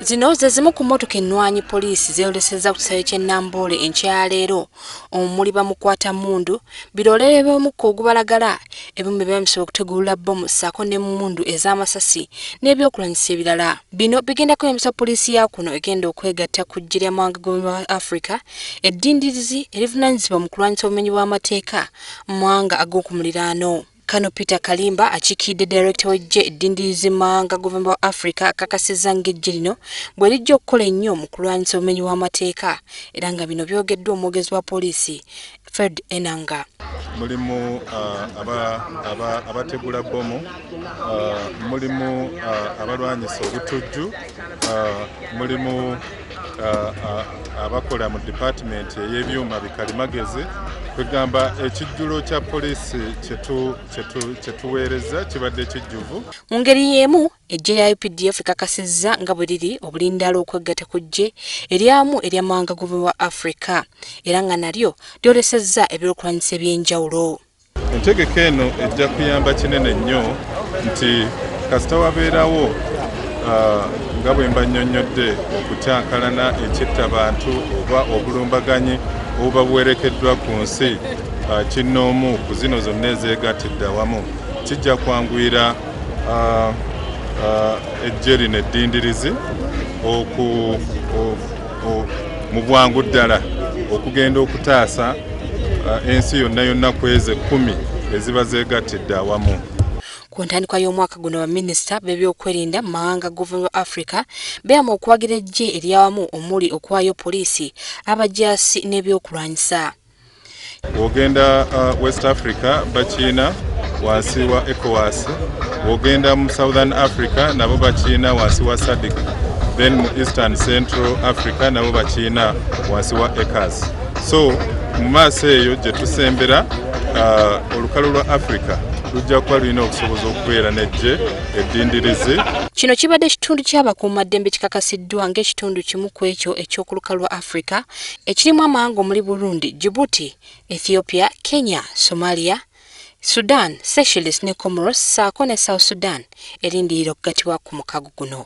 zino ze zimu ku mmotoka ennwanyi poliisi zeeyolesezza ku kisaawe ky'e namboole enkyaleero omuli bamukwata mundu biroolere by'omukka ogubalagala ebimu bye bamisaba okutegulula bbomu ssaako ne mundu ez'amasasi n'ebyokulanyisa ebirala bino bigenda kweyambisa poliisi ya kuno egenda okwegatta ku ggye ly'amawanga g'obumwe bwa afrika eddindirizi erivunaanyizibwa mu kulwanyisa obumenyi bw'amateeka mu mawanga ag'oku muliraano Kano Peter Kalimba akikiidde direkita w'eggye eddindirizi mawanga guvumba wa Afrika akakasizza ng'eggye lino bwe lijja okukola ennyo mu kulwanyisa obumenyi bw'amateeka era nga bino byogeddwa omwogezi wa poliisi Fred Enanga. Mulimu uh, abategula bbomu, uh, mulimu uh, abalwanyisa obutujju, mulimu abakola mu dipatimenti ey'ebyuma bikalimagezi kwegamba ekijjulo kya poliisi kyetuweereza kibadde kijjuvu mu ngeri y'emu ejje lya updf ekakasizza nga bwe liri obulindaala okweggata ku ggye eryamu eryamawanga gobwe wa afrika era nga nalyo lyolesezza ebyokulwanyisa eby'enjawulo Entegeka eno ejja kuyamba kinene nnyo nti kasita wabeerawo uh, nga bwe mba nnyonnyodde okukyankalana ekittabantu oba obulumbaganyi obuba buwerekeddwa ku nsi uh, kinnoomu ku zino zonna ezeegattidde awamu kijja kwanguyira uh, eggye lino eddindirizi oku mu bwangu ddala okugenda okutaasa uh, ensi yonna yonna kwezi ekkumi eziba zeegattidde awamu ku ntandikwa y'omwaka guno baminisita b'ebyokwerinda mu mawanga governor of africa beeyama okuwagira eggye eryawamu omuli okuwaayo poliisi abajaasi n'ebyokulwanyisa wogenda uh, west africa bakiina wansi wa ecowas wogenda mu southern africa nabo bakiina wansi wa sadic then mu eastern central africa nabo bakiina wansi wa ecas so mu maaso eyo gye tusembera uh, olukalu lwa africa lujja kuba lulina okusoboza okubeera nejje eddindirizi kino kibadde ekitundu ky'abakuumaddembe kikakasiddwa ng'ekitundu kimu ku ekyo eky'okuluka lwa africa ekirimu amawanga omuli Burundi, Djibouti, Ethiopia, Kenya, Somalia, Sudan, Seychelles ne Comoros ssaako ne South Sudan erindirira okugatibwa ku mukago guno.